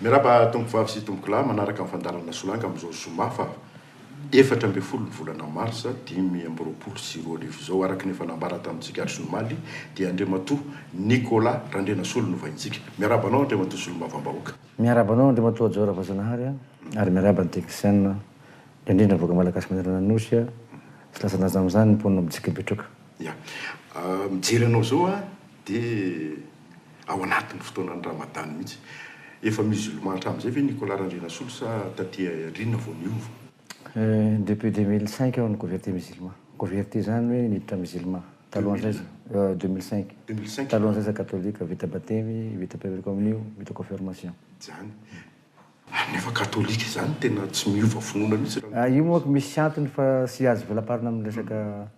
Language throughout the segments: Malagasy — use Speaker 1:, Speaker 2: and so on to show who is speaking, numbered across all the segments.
Speaker 1: Miarahaba Tompovavy sy Tompokolahy manaraka ny fandaharana Solanga amin'izao zoma fa efatra ambin'ny folo ny volana marsa dimy amby roapolo sy roa arivo izao. Araka ny efa nambara tamintsika hatry ny omaly dia Andriamatoa Nicolas Randrianasolo no vahintsika. Miarahaba anao Andriamatoa Solombavambahoaka. Miarahaba anao Andriamatoa
Speaker 2: Jao Ravajanahary a, ary miarahaba ny teknisianina, indrindra ny vahoaka malagasy manerana ny Nosy a, tsy lasan-danja amin'izany ny mponina mijika betroka. Ya.
Speaker 1: Mijery anao izao aho dia ao anatin'ny fotoanan'ny Ramadan mihitsy. Efa musulman hatramin'izay ve Nicolas Randrianasolo sa taty aoriana vao niova? Depuis
Speaker 2: deux mille cinq aho no converti musulman. Converti izany hoe niditra musulman. Talohan'izay, deux mille cinq, deux mille cinq, talohan'izay
Speaker 1: za katolika,
Speaker 2: vita batemy, vita première communion, vita confirmation. Izany. Ary
Speaker 1: nefa katolika izany tena tsy miova finoana mihitsy raha ny. Ah, io manko misy
Speaker 2: antony fa tsy azo velaparina amin'ny resaka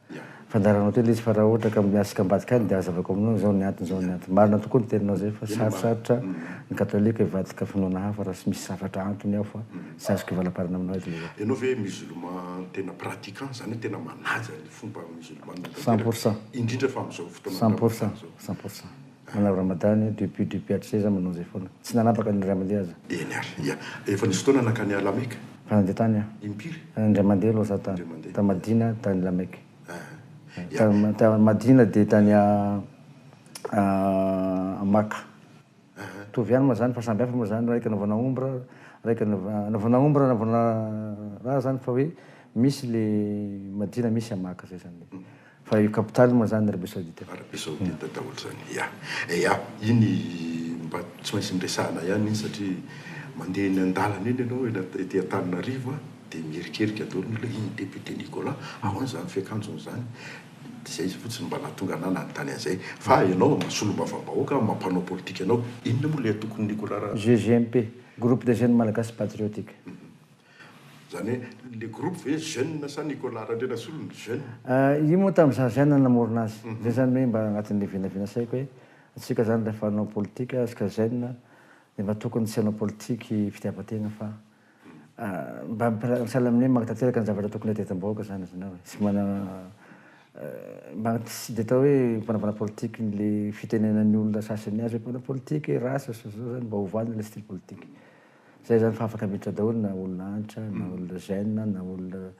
Speaker 2: fandaharanao teo ilay izy fa raha ohatra ka miatrika ambadika any dia azavako aminao hoe izao ny antony, izao ny antony. Marina tokoa ny teninao izay fa sarosarotra ny katolika hivadika finoana hafa raha tsy misy zavatra antony ao fa tsy azoko hivalaparina aminao eto ilay izy. Ianao ve musulman
Speaker 1: tena pratiquant, izany hoe tena manaja ny. fomba musulmane Cent pour cent. tanteraka,
Speaker 2: indrindra
Speaker 1: fa amin'izao fotoana Cent pour Ramadan cent,
Speaker 2: izao. cent pour cent. Manao Ramadan io depuis depuis hatrizay za manao izay foana. Tsy nanapaka ny indray mandeha aza. Eny ary,
Speaker 1: ia. Efa nisy fotoana nankany à la Mecque? Efa nandeha tany aho.
Speaker 2: Impiry? Indray
Speaker 1: mandeha aloha za tany.
Speaker 2: Indray mandeha. Tany Madina, tany la Mecque. Aha, ia. Tany Madina dia tany à à Makka. Mitovy ihany moa zany fa samby hafa moa zany raika anaovana omby ra raika anaovana omby ra anaovana ra zany fa hoe misy le madio na misy amaka zay zany le fa io capital moa zany arabie saoudite arabie saoudite daholo
Speaker 1: zany ya ya iny mba tsy maintsy niresahana ihany iny satria mandeha eny andalana eny enao ety antananarivo a de miherikerika daholo ny olona iny député Nicolas ahoana zany fiakanjony zany Izay izy fotsiny mba nahatonga anah nanontany an'izay. Fa ianao mba solombavambahoaka, mba mpanao politika ianao. Inona moa ilay antokony nikorara? GJMP,
Speaker 2: Groupe des Jeunes Malagasy Patriotiques.
Speaker 1: Izany hoe ilay groupe ve jeunes sa Nicolas Randrianasolo no jeune? Io moa tamin'ny
Speaker 2: izaho jeune no namorona azy. Izay izany hoe mba anatin'ilay vinavina saiko hoe antsika izany rehefa hanao politika isika jeune dia mba tokony tsy hanao politique fitiavan-tena fa. Mba sahala amin'ny hoe magnatanteraka ny zavatra tokony hadiatam-bahoaka izany ianao e. Tsy manana mba tsy dia atao hoe mpanambana politika ilay fitenenan'ny olona sasany azy hoe mpanao politika e, ratsy izao sy izao izany, mba ovàna ilay style politika. Izay izany fa afaka miditra daholo na olona Hanitra, na olona Zen, na olona.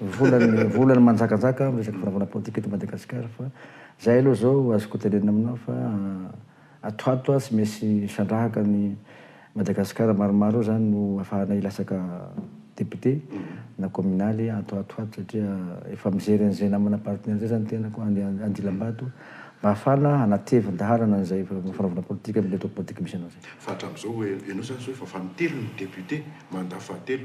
Speaker 2: Vola ny vola no manjakajaka amin'ny resaka fanavaozana politika eto Madagasikara fa zay aloha zao azoko tenenina aminao fa ato ato tsy misy sandrahaka ny Madagasikara maromaro eo zany no afahana hilatsaka député na communale ato ato ato satria efa mijery an'izay namana parti an'izay zany tenako any Andilambato mba afahana hanatevin daharana an'izay fanavaozana politika am'ilay atao politika misy anao zay. Fa hatramin'izao ianao zany
Speaker 1: zao efa fanintelony ny député mandat fahatelo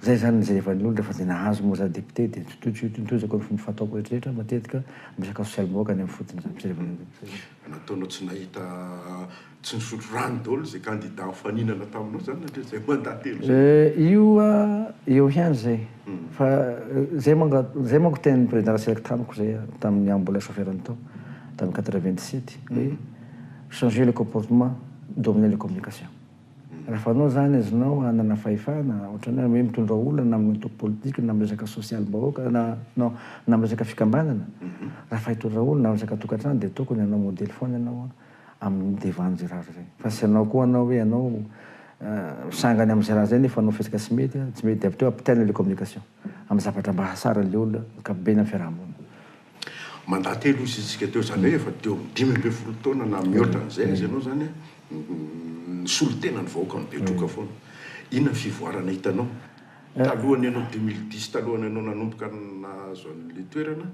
Speaker 2: Zay zany ny zaivan'ny olona fa zay nahazo moa za député de totojo tontojako ny fomba fataoko rehetra rehetra matetika misakafo sy almoaka any amin'ny fotony zany zay vao nataonao tsy nahita
Speaker 1: tsy nisotro rano daholo zay candidat nifaninana taminao zany nandritra zay mandat telo zay?
Speaker 2: Eh io eo ihany zay fa zay manga zay manko tenin'ny président ratsiraka tamiko zay tamin'ny aho mbola chauffeur ny tao tamin'ny quatre vingt sept hoe changer le comportement dominer les communications. Raha fanao izany azonao hanana fahefana, ohatran'ny hoe mitondra olana amin'ny antoko politika na amin'ny resaka sosialim-bahoaka na non, na amin'ny resaka fikambanana, raha fa hitondra olona amin'ny resaka tokantrano dia tokony hanao modely foana ianao amin'ny devan' izay raha izay. Fa tsy hanao koa ianao hoe ianao misangany amin'izay raha izay nefa hanao fihetsika tsy mety, tsy mety dia avy teo ampitaina ilay communication amin'ny zavatra mba hahatsara an'ilay olona, ankapobeny amin'ny fiaraha-monina. Mandat
Speaker 1: telo hoy isika teo izany hoe efa teo amin'ny dimy ambin'ny folo taona na mihoatra an'izay aza ianao izany nisolo tena ny vahoaka mibetroka foana. Inona ny fivoarana hitanao talohan'ny anao deux mille dix talohan'ny anao nanomboka nahazo an'ilay toerana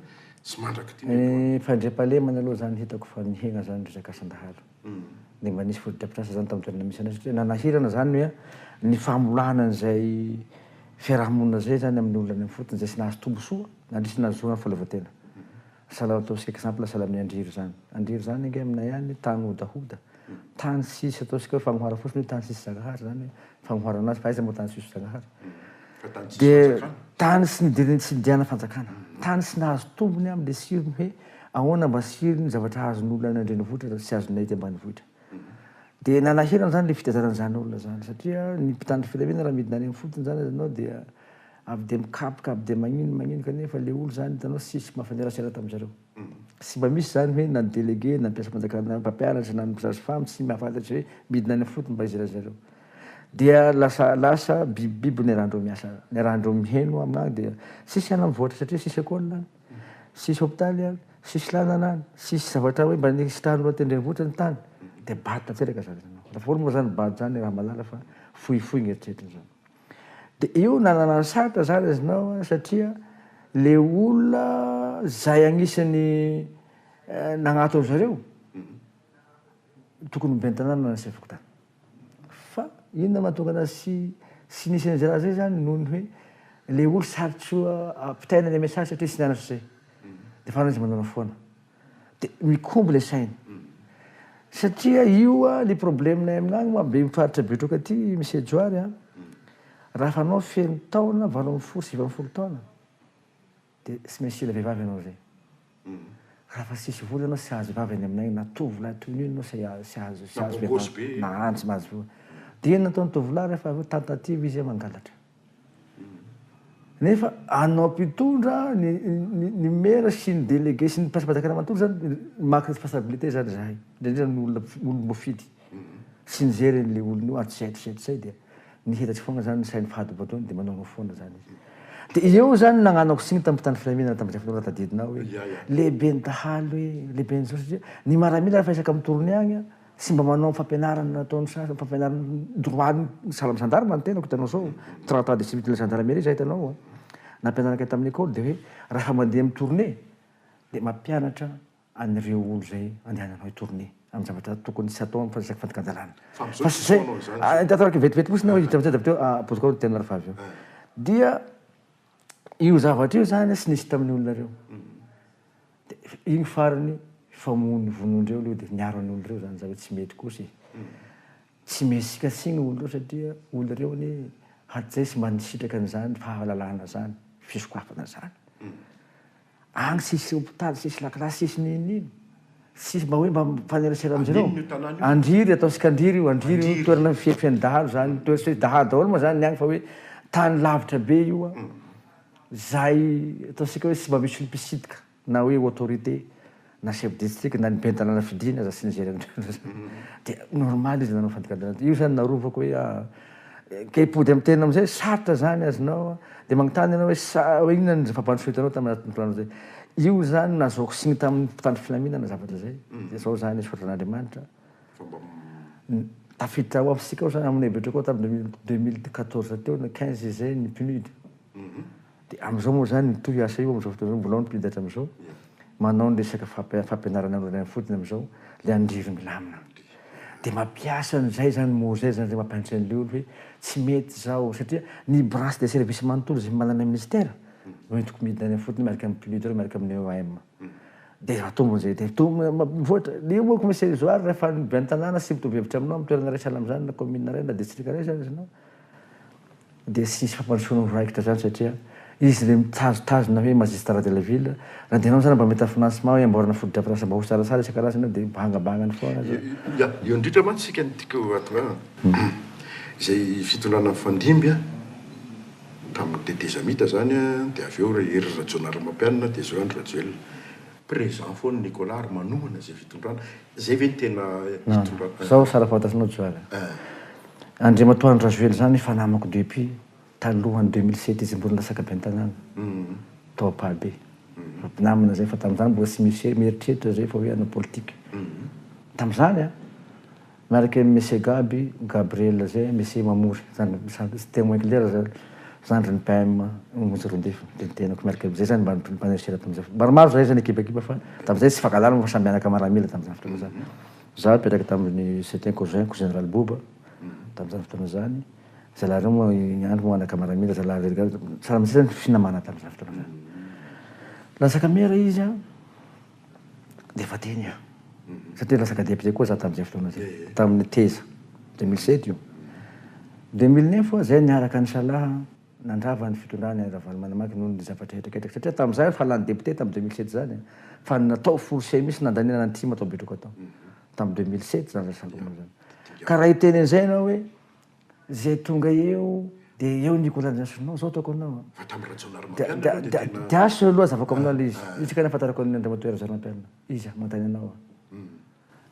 Speaker 1: sy mandrak'ity ny aloha? Ny fandriampahalemana
Speaker 2: aloha izany hitako fa mihena izany resaka asan-dahalo. dia mba nisy fotodrafitrasa izany tamin'ny toerana misy anay satria nanahirana izany hoe ny famolahana an'izay fiarahamonina izay izany amin'ny olona any amin'ny fotony izay tsy nahazo tombontsoa nandritra ny nahazoana fahaleovantena. Sahala ataon'ny isika exemple sahala amin'ny an-dry ry zany. An-dry ry zany ange aminay any tany hodahoda, tany tsisy ataontsika hoe fagnoharana fotsiny hoe tany tsisy Zagnahary izany hoe fagnoharana azy fa aiza moa tany tsisy Zagnahary. Dia tany tsy nidirin'ny tsy nidiana fanjakana, tany tsy nahazo tombony amin'ny le tsirony hoe Ahoana mba sy ino ny zavatra azon' olona any an-drenivohitra raha tsy azonay ety ambanivohitra? Dia nalahelo an'izany ilay fitezarana izany olona izany satria ny mpitandro filaminana raha midina any amin'ny fotony izany azonao dia avy dia mikapoka avy dia magnino magnino kanefa ilay olona izany hitanao tsy nisy mafanerasera tamin'ny zareo. Tsy mba misy izany hoe na ny délégué na ny mpiasam-panjakana na ny mpampianatra na ny mpisage femme tsy mahafantatra hoe midina any amin'ny fotony mba iza ry zareo. Dia lasa lasa bibibiby niarahandreo miasa niarahandreo miheno amin'any dia tsisy hanam-boatra satria tsisy école any. tsisy hopitaly any, tsisy lalana any, tsisy zavatra hoe mba nirisitrahan'olo aty an-drenivohitra ny tany dia bado tanteraka zany ianao. Ataovy moa zany bado zany raha malala fa fohifohy ny eritreritra zany. Dia io nanana ny sarotra zany iznao an satria le olona zay agnisan'ny nagnatona zareo tokony ho ben'ny tanàna na ny seha fokontany. Fa inona mahatonga anazy tsy tsy nisy an'izay raha izay zany noho ny hoe le olo sarotry ampitaina le message satria tsy nianatra zay de efa izy manao foana de mikombo le sainy satria io a le problemenay amin'agny moa be faritra betroka aty Mise Johary a raha efa anao feno taona valo ambin'ny folo sivy ambin'ny folo taona De tsy maintsy hila vehivavy ianao zay. Raha fa tsisy vola ianao tsy hahazo vavy any aminay na tovolahy toy ny io ianao tsy tsy hahazo tsy hahazo vehivavy na any tsy mahazo vola. De inona no ataon'ny tovolahy rehefa avy eo tentative izy mangalatra. Nefa anao mpitondra ny ny ny maire sy ny délégué sy ny mpiasa mpanjakana manontolo zany maka responsabilité zany zahay indrindra ny olona olom-boafidy. Tsy nijery an'ilay olona io ary tsy haiko satria sahy dia nihetatsy foana zany ny sainy fady boatony dia manaonao foana zany izy. Dia eo zany nagnanako signe tamin'ny mpitandro filaminana tamin'izay fotoana tadidinao hoe lehiben'ny dahalo hoe lehiben'ny jiosy satria ny maramila rehefa isaka mitory ny agny an tsy mba manao ny fampianarana nataon'ny sasany ny fampianarana ny droit ny sahala amin'ny gendarme ny tenako hitanao zao trente ans de service de la gendarmerie zah hitanao an nampianarinay tamin'ny ecole dia hoe raha mandeha mitourner dia mampianatra an'ireo olo zay andehananao hitourne amin'ny zavatra tokony tsy hatao fa isaky fandikan-dalàna Fa amizao tsy atao anao izany zao. Atao araka ny vetivety fotsiny aho hijery an'izay teo apotika ao ny teninao rehefa avy eo dia io zavatra io zany tsy nisy tamin'ny olona reo de iny farany famonoana vonoin-dreo leo de niaro an'olo reo zany za hoe tsy mety kosa e tsy me sika tsy ny olo reo satria olo reo anie hatrizay tsy mba nisitraka an'izany fahalalana zany fisokafana zany Agny tsisy hopitaly, tsisy lakilasy, tsisy n'inon'ino. Tsisy mba hoe mba mifanerasera amin'izy ireo. Andriny io tanàna io. Andriry, ataontsika Andriry io, Andriry io toerana feno dahalo izany, toerana feno dahalo daholo moa izany ny agny fa hoe tany lavitra be io an, izay ataontsika hoe tsy mba misy olo-mpisitka na hoe autorité. na chef district na ny ben'ny tanàna fidiny aza tsy nijery an'ireo loatra zany dia normal izy nanao fandikan-dalàna io zany narovako hoe ah kay hipody amin'ny tena amin'izay sarotra zany azonao ah dia magnontany ianao hoe sa hoe inona ny zava-bantsy ho hitanao tamin'ny anatin'ny planao zay io zany nazahoako signe tamin'ny mpitandro filaminana zavatra zay dia zao zany izy fototry an'Andriamanitra fa mba m tafiditra ao amin'ny fisika ao zany amin'ny hevitrako tamin'ny deux mille quatorze teo na quinze izay ny PNUD. Dia amin'izao moa izany mitohy io asa io amin'izao fotoana izao, mbola ao ny mpiditra hatramin'izao, manao ny resaka fampianarana amin'ireo any am-fotony amin'izao, ilay an-dry milamina. Dia mampiasa an'izay izany mozay izany izay mampianatra an'ilay olona hoe tsy mety izao, satria ny branche des services manontolo izay manana minisitera no entiko midina any am-fotony miaraka amin'ny PULID ireo miaraka amin'ny EOM. Dia atombo an'izay, dia atombo mivoatra. Dia io moa Commissaire Isoar rehefa any be an-tanàna sy mitovy hevitra aminao amin'ny toerana iray sahala amin'izany na commune iray na district iray izany ianao, dia tsy hisy fampandrosoana ho raikitra izany satria izy ilay mitazotazona hoe magistrat de la ville, na dia ianao aza mba mahita financement hoe amboarana fotodrafitrasa baosy tsaratsara isan-karazany eo dia bangabangany foana zao. Ya, eo indrindra
Speaker 1: mantsy isika no tiako hatongavana, izay fitondrana nifandimby tamin'ny tetezamita izany dia avy eo Hery Rajaonarimampianina dia izao Andry Rajoelina. Présent foana Nicolas ary manohana izay fitondrana. Zay ve ny tena hitondra an. Sao sara fantatrinao
Speaker 2: John a. Andriamatoa Andry Rajoely zany efa namako depuis talohan'ny deux mille sept izy mbola latsaka ben'ny tanàna tao Ampahabe. Efa mpinamana zay fa tamin'izany mbola tsy misy hoe mieritreritra zay fa hoe hanao politika. Tamin'izany a. Miaraka amin'i Monsieur Gaby, Gabriel zay, Monsieur Mamory, zany sady tsy témoin clair zany. Zandrin'ny PM Monja Rondefy dia ny tenako miaraka amin'izay izany mba nipanerasera tamin'izay fotoana. Maromaro izahay izay nikibakiba fa tamin'izay tsy fankahalàlana fa samy mianaka maramila tamin'izany fotoana izany. Izaho nipetraka tamin'ny c'est un cousin ko Général Boba tamin'izany fotoana izany. Zalahy ireo moa ny andro moa anaka maramila zalahy religare. Tsara mihitsy izany ny finamana tamin'izany fotoana izany. Latsaka mera izy an! dia efa teny aho. Satria lasa cadet-pte koa za tamin'izay fotoana izay. Tamin'ny teza. Deux mille sept io. Deux mille neuf aho izay niaraka nisalahy nandrava ny fitondrana i Ravalomanamaki noho ny zavatra hetraketraka. Satria tamin'izay aho efa lany député tamin'ny deux mille sept izany e. Fa ny natao forcé mihitsy nandaniana ny tim ato Betroka tao. Tamin'ny deux mille sept izany raha tsy diso aho izany. Ka raha hiteny an'izay ianao hoe. Zay tonga eo de eo ny collationao zao ataoko aminao an. Fa tamin'ny Rajaonarimampianina aloha de tena. De asso aloha azavako aminao le izy, izy ka nahafantarako an'i Andriamatoa Rajaonarimampianina, izy an, manontany anao aho.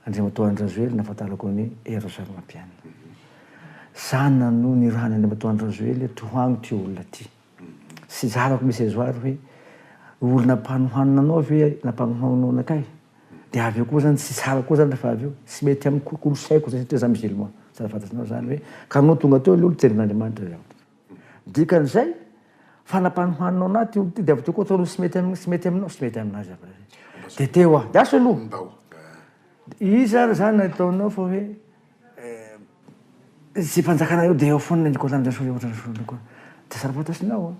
Speaker 2: Andriamatoa Andry Rajoely nahafantarako an'i Hery Rajaonarimampianina. Zany nanohy nirahany Andriamatoa Andry Rajoely hoe tohano ty olona ty. Tsy zarako misy azo ary hoe olona mpanohanona anao ve na mpanohanona anakay? Dia avy eo koa zany tsy tsara koa zany rehefa avy eo, tsy mety amin'ny kolosaiko zany satria za musulman, tsara fantatrao zany hoe ka anao tonga teo aloha niteny amin'Andriamanitra zany. Dikan'izay fa na mpanohanona anao ty olona ty dia avy teo koa ataonao tsy mety tsy mety aminao, tsy mety aminazy zany raha zay. Dia teo aho, dia aso aloha. Iza ary zany ataonao fa hoe. Eh! Tsy mpanjakana eo dia eo foana ny kôlan'i Rasolo eo ohatran'ny solony koa. Dia tsara fantasinao an!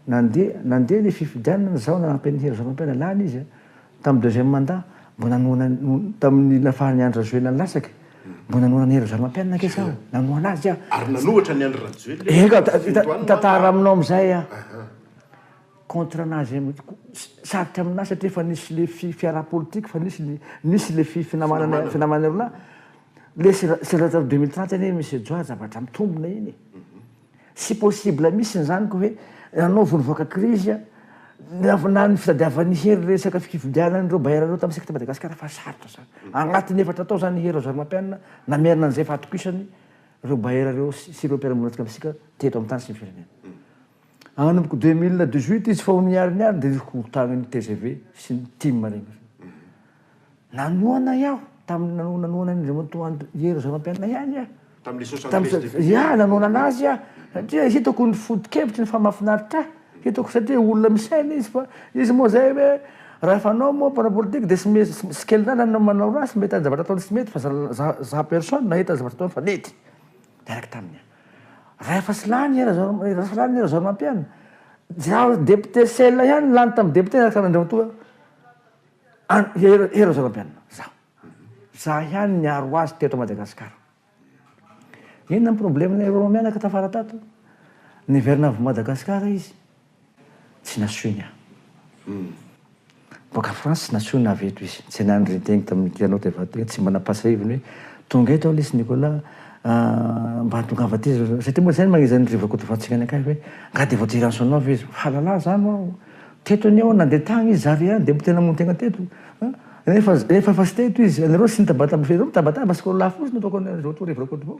Speaker 2: Nandeha, nandeha ny fifidianana nizao nanampy an'i Hery Rajaonarimampianina lany izy an! Tamin'ny deuxième mandat, mbo nanohana, tamin'ny nafahan'i Andry Rajoelina nilatsaka, mbo nanohana an'i Hery Rajaonarimampianina ange za, nanohana azy aho. Ary nanohatra an'i Andry
Speaker 1: Rajoelina eo, eny ka,
Speaker 2: hitantara aminao amin'izay aho. contre anazy sarotra aminahy satria efa nisy le fiaraha politique fa nisy ny nisy le finamanana finamanana roa lahy le seza atao deux mille trente anie monsieur joa zavatra mitombina iny tsy possible mihitsy zany ko hoe ianao vao nivoaka crise na ny fitadiavany hery resaka fifidianana ireo bailleur ireo tamin'ny secte Madagascar efa sarotra zany anatin'ny efatra tao zany hery razoarimapianina namerina an'izay fahatokisany ireo bailleur ireo sy ireo mpiara-monina antsika misika teto amin'ny tany sy ny firenena Hanomboka deux mille dix huit izy fa ho nihariny ary ny reviko ho tagnin'ny tgv sy ny tim regny. Nanohana aho tamin'ny nano- nanohana an'i Andriamatoa Andry Hery Razanampianina ihany aho. Tamin'ilay soixante Tamin'ny treize sa- députés. ia, nanohana anazy aho satria hitako ny foto-kevitry ny fa mahafinaritra ahy. Hitako satria olona misaina izy fa izy moa zay hoe raha fanao moa mpanao politika dia tsy me- tsy tsy kely lalana no manao ratsy, mety ny zavatra ataony tsy mety fa za- za- za personne nahita ny zavatra ataony fa nety. Niaraka taminy aho. Rahefa sy lany i Razaramampianina. Zao député seul ihany lany tamin'ny député niaraka an'Andriamatoa Hery Razaramampianina. Zao. Za ihany niaro azy teto Madagascar. Inona ny problème-ny Rôma mianaka tafara tato? Niverina avy Madagascar izy. Tsy nasoiny aho. Boaka France nasoina avy eto izy. Tsy nahay nirinteny teny tamin'ny Piano de Vadra, tsy mba nampasa heviny hoe, Tonga eto aho lesy Nicolas a, mba hatongava aty za. Satria moa izay no manezin'ny ry Rakotovatsika ny akaiky hoe, Angaha dia vao dia Ransonov izy. Fahalalana izany ho aho. Teto anie aho nandeha tany izy, za re any dia mbo te namono tena teto. Nefa efa efa tsy teto izy. Ianareo tsy nitabataba, ianareo mitabataba, sokolahy fotsiny no ataoko an'izao toa ry Rakotovao.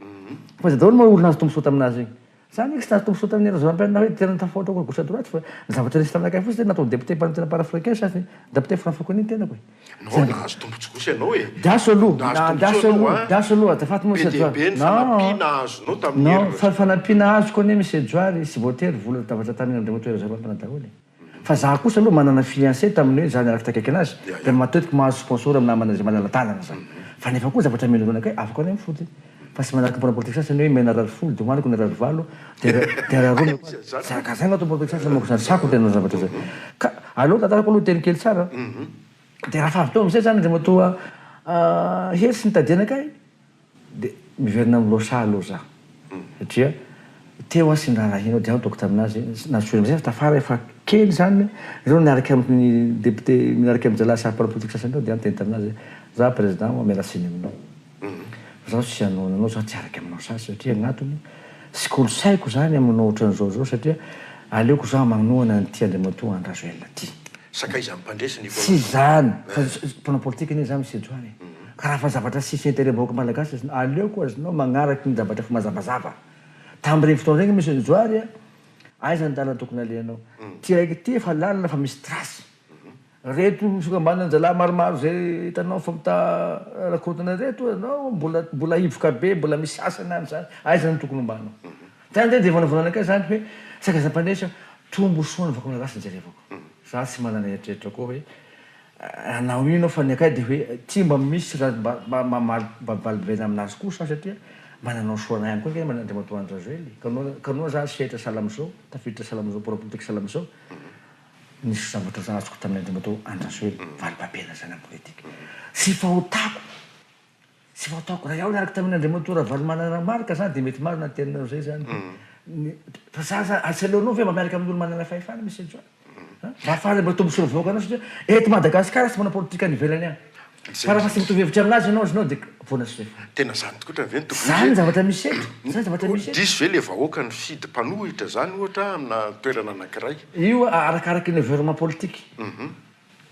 Speaker 2: Fa izay daholo moa ory nahazo tombontsoa tamin'azy iny. Za nix nazoto misaotra an'i Razampianina hoe tena tafahoatra koa gauche à droite fa ny zavatra nisy taminakay fotsiny dia nataony député par antenne parafricain sa ny dapite franfakony ny tenako e! Anao ary nahazo
Speaker 1: tombotsoa gauche ianao e! Diaso aloha,
Speaker 2: nahazo tombotsoa ianao a! Diaso aloha, azafady Monsieur Johary. Be dia be ny fanampiana azonao tamin'i Hery Rajoelina. Non, fanampiana azoko anie Monsieur Johary, tsy voatery vola tabatra tamin'i Andriamatoa Hery Rajaonarimampianina daholo e! Fa za kosa aloha manana fiancée tamin'ny hoe za niaraka takiaky anazy dia matetika mahazo sponsor amin'ny namana izay manala-dalana za. Fa nefa koa zavatra milona kay afaka ny mifoty. Fa tsy manaraka ny mpanao politika sasany hoe mena rary folo dia hoaniko ny rary valo dia dia rary roa mihitsy. Tsy araka izay no ataon'ny politika sasany manko izany sarotra ny hanao zavatra izay. Ka aleo tantarako aloha teny kely tsara dia raha fa avy teo amin'izay izany Andriamatoa Hery sy ny Tadiana kay, Dia miverina amin'ny Losa aloha za satria teo aho sy ny rahalahinao dia aho nitaoko tamin'azy na soa aman-dresaka tafara efa kely izany ireo niaraka amiko ny député miaraka amin'ny zalahy samy mpanao politika sasany tao dia aho niteny tamin'azy hoe za président aho miala tsiny aminao fa zaho tsy hanohana anao zaho tsy hiaraka aminao sasy satria ny antony tsy kolosaiko izany ny manao ohatran'izao izao satria aleoko zaho manohana an'ity Andriamatoa Andry Rajoelina ity. Sakaizan'ny mpandresy
Speaker 1: ny politika. Tsy izany
Speaker 2: fa mpanao politika anie za Misedra any e. Ka raha fa zavatra sisy interet vahoaka malagasy azonao, aleoko azonao magnaraky ny zavatra efa mazavazava. Tam regny fotoana regny Monsieur Johary a, aiza ny lalana tokony alehanao. Ty raiky ity efa lalana fa misy trace. Reto fikambanan zalahy maromaro zay itanao fa mita rakotana reto azonao, mbola mbola hivoka be, mbola misy sasany any zany. Aiza ny tokony hombanao. Zany ndray dia vonavonana kay zany hoe saika za mpandraisa, tombosoa ny vahoaka malagasy no jerevako. Za tsy manana eritreritra koa hoe. Hanao ino aho fa ny akay dia hoe tsy mba misy raha mba mba mamaly mba valivelaina aminazy kosa aho satria mba nanao soa anay ihany koa angamba Andriamatoa Andry Rajoely ka noa ka noa za sehatra sahala amin'izao tafiditra sahala amin'izao bôrao politika sahala amin'izao nisy zavatra za azoko tamin'ny Andriamatoa Andry Rajoely valibabena zany amin'ny politika tsy fahotako Tsy vao taoko iray aho niaraka tamin' Andriamatoa Ravalomanana Marc zany dia mety marina ny teninao izay zany. Fa za zany ary tsy aleonao ve mba miaraka amin' ny olo manana fahefana Mister John a? Raha faly mba tombotsoa ny vahoakanao satria eto Madagasikara tsy manao politika any ivelany any. Fa raha fa tsy mitovy hevitra aminazy ianao iznao dia voana sy refa. Tena zany tokoa otrany ve
Speaker 1: ny tokony izy e? Zany ny zavatra misy eto,
Speaker 2: zany ny zavatra misy eto. Diso ve le vahoaka nifidy
Speaker 1: mpanohitra zany ohatra amina toerana anakiray? Io arakaraka
Speaker 2: ny environnement politique.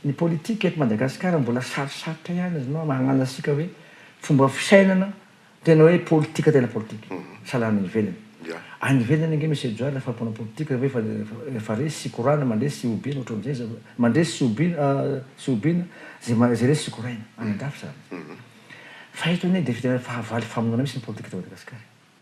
Speaker 2: Ny politika eto Madagasikara mbola sarosarotra ihany izy no mahalala antsika hoe fomba fisainana tena hoe politika tena politika. Sahala any ivelany. Any ivelany ange Monsieur Johary rehefa mpanao politika ve efa efa resy sy korana mandresy sy hobiana ohatran'izay izy mandresy sy hobiana sy hobiana izay izay resy sy koraina any an-dafy izany. Fa eto anie dia tena fahavalo famonoana mihitsy ny politika eto Madagasikara e.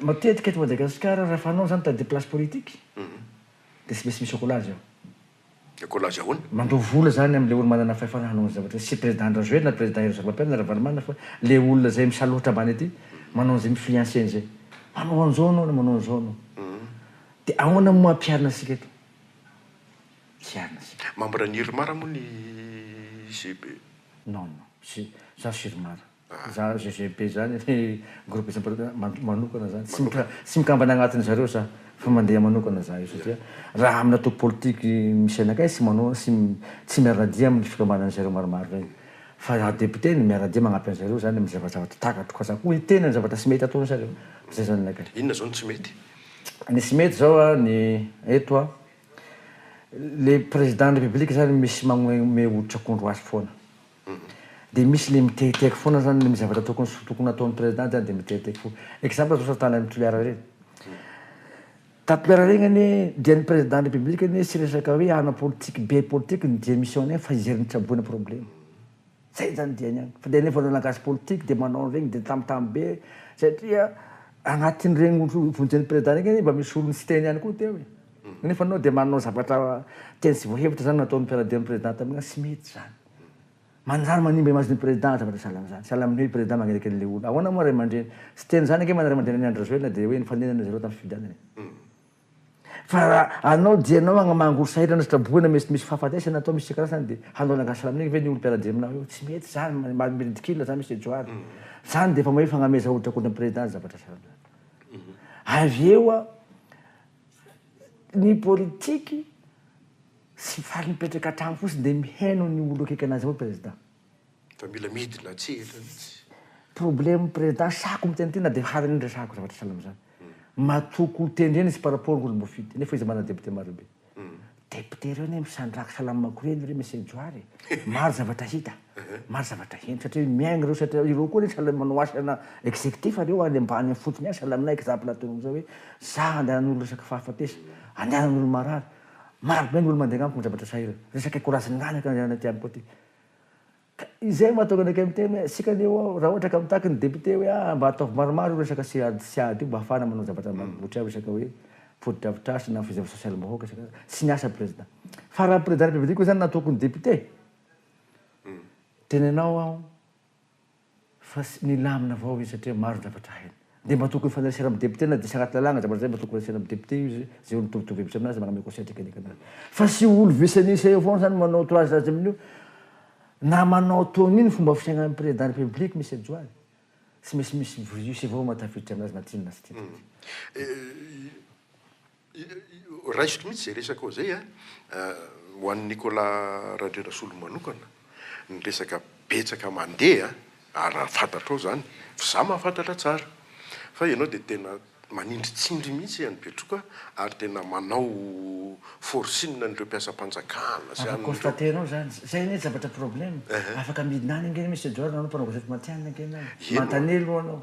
Speaker 2: Matetika eto Madagasikara raha fanao zany tadidio place politique dia tsy maintsy misy accolage ao. Accolage
Speaker 1: ahoana? Mandoa vola zany amle
Speaker 2: olo manana fahefana hanao anzay zavatra zay, tsy president Androzoelina na president Hery Zafimampianina na Ravalomanana fa le olona zay misalohotra ambany aty manao anzay mifliancer anzay manao anzao anao na manao anzao anao. Dia ahoana moa ampiharina antsika eto? Hiharina antsika. Membre ny Irmar moa ny
Speaker 1: JB? Non
Speaker 2: non, tsy, za tsy Irmar. Za GGB zany le groupe isamparotana manokana zany tsy mikambana agnatiny zareo za fa mandeha manokana za io satria raha aminy antoko politique misy anakay tsy manao tsy miaradia aminy fikambana an'i zareo maromaro reny fa za député no miaradia magnampy an'i zareo zany aminy zavajavatra takatro ka za ko hiteny ny zavatra tsy mety ataony zareo zay zany anakay. Inona zao no tsy mety?
Speaker 1: Ny tsy mety
Speaker 2: zao a ny eto a le président ny république zany misy magnome oditr'akondro azy foana. Dia misy le miteheteheky foana zany le misy zavatra tokony sy tokony ataon'ny president zany de miteheteheky fo. Exemple zao sasany tany am Toliara reny. Tato Toliara reny anie dia ny president de la republique anie tsy resaka hoe hanao politique be politique ny dia mission-ny any fa hijery ny tsaboina problème. Zay zany diany any. Fa dia nefa anao lagasy politique dia manao an'iregny dia tambitamby be satria agnatin'iregny ohatra vonjen'ny president regny anie mba misy olona tsy teny ihany koa teo e. Nefa anao dia manao zavatra teny tsy voahevitra zany nataon'ny mpiara-dia ny president taminao tsy mety zany. Manjary manimba image ny président aza manao sahala amin'izany. Sahala amin'ny hoe président magnerakely le olona. Ahoana moa ray aman-dreny? Tsy teny izany ange moa ny ray aman-dreny an'i Andry Rajoelina dia hoe nifaninana zareo tamin'ny fifidianana e. Fa raha anao dia ianao agnamango ho sahirana sy traboina mety misy fahafatesana atao misy isan-karazany dia hanao langage slam an'iny ve ny olona mpiara-dia aminao eo? Tsy mety izany, maha ridicule izany Mister Johary. Izany dia efa hoe fagnameza hoditra contre ny président zavatra sahala amin'izany. Avy eo ny politique, Tsy faly mipetraka an-trano fotsiny dia mihaino ny olo akaiky anazy avao prezida. Fa mila
Speaker 1: midina tsehatra mihitsy. Problème
Speaker 2: président sako miteny ty na de hany anie resahako zavatra sahala amzany. Matoky ho tendrena izy par rapport olo mbo fidy nefa izy manana député maro be. Député reo anie misandraha salama makorely re Monsieur Johary e. Maro zavatra hita, maro zavatra heno satria miaigny reo satria ireo koa anie sahala manao asa ana executif reo any ambany any fotsiny any sahala aminay exemple ataonao amzao hoe za andehanan'olo resaka fahafatesa, andehanan'olo marary. Maro be ny olo mandeha amiko midradratra sahirana. Resaka courage nananako ny anarana ity amiko ity. Ka izay no mahatonga anakay miteny hoe isika anie hoa raha ohatra ka mitaky ny député hoe ah mba ataovy maromaro io resaka CAD CAD io mba hahafahana manao zavatra ambanivohitra ao resaka hoe fotodrafitrasa na fizava sosialim-bahoaka isaka tsy ny asa président. Fa raha président de la république koa izany na tokony député. Tenenao aho. Fa tsy milamina avao izy satria maro ny zavatra hainy. Dia mba tokony fanerasera amin'ny député na diso anaty lalàgna zavatra zay mba tokony resena amin'ny député io izy zay olo mitovitovy hevitra aminazy magname conseil teknika anazy. Fa tsy olo vice-nisa eo foana zany manao toazy azy amin'io na manao toa iny fomba fiaignan'ny président république misy ajo azy. Tsy maintsy misy virus avao mahatafiditra anazy na tiany na tsy tiany.
Speaker 1: Raisiko mihitsy izay resaka ao izay a. Ho an'i Nicolas Randrianasolo manokana, ny resaka betsaka mandeha a, raha fantatrao izany, fa izaho mahafantatra tsara fa ianao dia tena manindritsindry mihitsy an'i Betroka ary tena manao forcing an'ireo mpiasam-panjakana sy an'ireo. Afa constater-nao izany.
Speaker 2: Izay anie tsy zavatra problème. Afaka midina any ange Monsieur Edouard ianao mpanao gazety matihanina ange ianao. Manontania aloha ianao.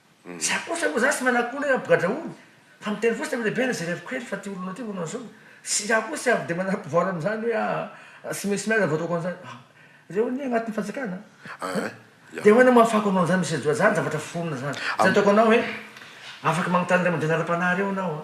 Speaker 2: Za kosa moa za tsy manakona hoe ambogadrahona fa miteny fotsiny am lehibe na ze reviko kely fa ty olona ty olona zao sy za koa tsy avy de manary pouvoir amzany hoe aa tsy misy miady vao ataoko anzany aa reo anie agnatin'ny fanjakana aa de ahoana no mahafahako anao anzany Monsieur Joa zany zavatra foronina zany zay ataoko anao hoe afaka magnotany ray aman-dreninareo ara-panahy reo anao a.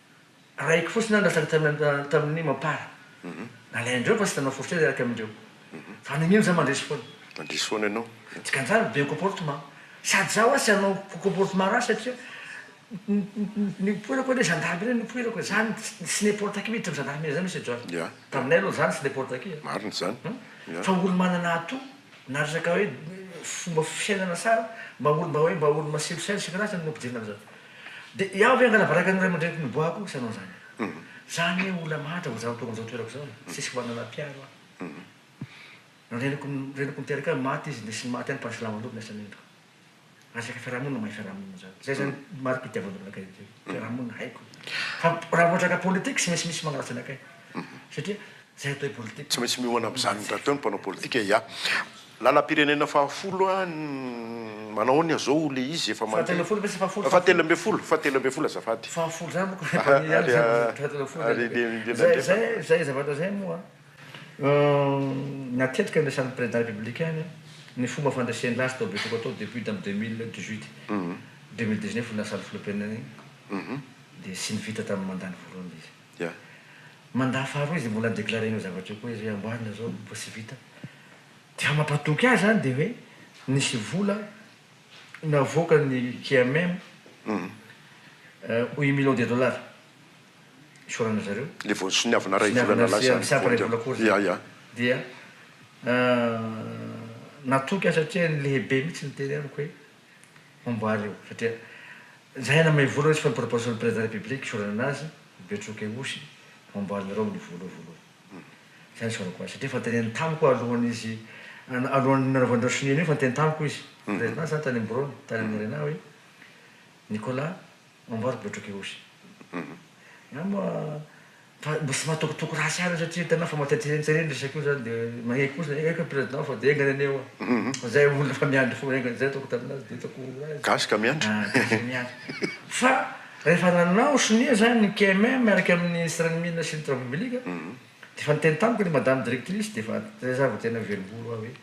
Speaker 2: Arahiko fotsiny aho nilatsaka tamin'ny tamin'ny mampara. Nalain-dreo fa tsy nanao forcé hiaraka amin-dreo. Fa nagnino za mandresy foana? Mandresy foana ianao.
Speaker 1: Dikan'izany be
Speaker 2: comportement. Sady za hoa tsy hanao comportement ratsy satria ny nipoirako anie gendarme anie nipoirako e. Za tsy n'importe qui miditra amin'ny gendarmerie za Monsieur John. Ya. Taminay aloha za tsy n'importe qui e. Marina izany.
Speaker 1: Ya. Fa olo manana
Speaker 2: atout na resaka hoe fomba fisainana tsara, mba olo mba hoe mba olo masilosaina sy isan-karazany no ampidirina amin'izany. Dia iao ve angala baraka ny ray aman-dreniko niboahako sa anao izany? Izaho anie olona mahatra vao zara tonga amin'izao toerako izao e! Tsisy manana mpiaro aho. Ny reniko reniko niteraka ahy maty izy, nisy ny maty ihany fa silamo loatra ny asan'ny endriko. Resaka fiarahamonina mahay fiarahamonina izany. Izay izany mari-pitiavan'olona kay izay. Fiarahamonina haiko. Fa raha vao resaka politique tsy misy misy magnaratsy anakay. Satria Tsy maintsy miomana amin'izany
Speaker 1: rahateo ny mpanao politika ia. Lalam-pirenena fahafolo a, manahoana izao ilay izy efa mandeha? Fahatelofolo ve sa fahafolo? Fahatelo ambin'ny folo, fahatelo ambin'ny folo azafady. Fahafolo izany manko efa eo
Speaker 2: ihany izany fahatelon'ny folo izany. Izay, izay, izay zavatra izay moa natetika niresahan'ny Président Républicain ny ny fomba fandresen'la azy tao Betoko tao depuis tamin'ny deux mille dix huit, deux mille dix neuf no lasa ny filoham-pirenena iny dia tsy nivita tamin'ny mandat-ny voalohany ilay izy. Yeah. Mandat faharoa izy mbola déclaré an'io zavatra io koa izy hoe amboarina zao vao tsy vita. Dia raha mampatoky ahy zany dia hoe nisy vola navoakan'ny KMM un million de dollars isaorana zareo. Le vao soniavana iray vola nalaza zany.
Speaker 1: Soniavana iray vola kôry zany. Yeah,
Speaker 2: yeah. Dia natoky ahy satria lehibe mihitsy niteny amiko hoe. Amboary io satria zay aina mahay vola resy fa ny proposition président de la république isaorana anazy Betroky Osy amboarinareo ny vola io voalohany zay no isaorako azy satria efa teneniny tamiko alohan'ny izy alohan'ny nanaovan'ireo sonia an'io efa niteny tamiko izy président za tany amborone tany amin'ny arena hoe Nicolas amboary Betroky Osy za moa Fa mba tsy mahatokotoko ratsy ihany io satria hitanao fa matetrentseren resaka io zany dia maneky fotsiny hoe enga ny président fa dia enga ny anio fa zay olona efa miandry foana enga zay ataoko taminazy dia ataoko raha izy gasy ka miandry ah gasy ka miandry fa rehefa nanao sonia zany ny KMM miaraka amin'ny ministre ny mines sy ny travaux publics dia efa niteny tamiko ny madame directrice dia efa zay za vao tena velom-bolo aho hoe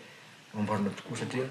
Speaker 2: amboarina tokoa satria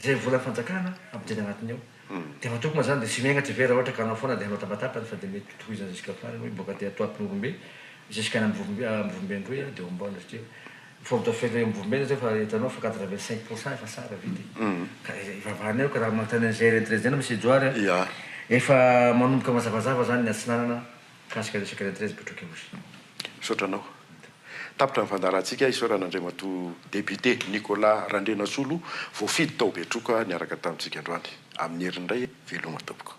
Speaker 2: Izay volan'ny fanjakana ampidirina anatiny ao dia efa tokona izany dia tsy miainga tsy very raha ohatra ka hanao foana dia hanao tabatapany fa dia mety ho tohizana jusqu'à farany hoe boaka aty Antoatin'orombe jusqu'à any Ambovo Ambovobe Androy aho dia hombaona satria fort de fait eo Ambovobe nareo fa hitanao fa quatre vingt cinq pour cent efa sara vita e ka ivavahana eo ka raha manontany an'izay retraite izay na Monsieur Johary a efa manomboka mazavazava izany ny Atsinanana Mikasika resaka iray treize Betroky Ihosy. Misaotra anao.
Speaker 1: Tapitra ny fandaharantsika isaorana Andriamatoa Député Nicolas Randrianasolo voafidy tao Betroka niaraka tamintsika androany. Amin'ny heriny indray e! Veloma tompoko.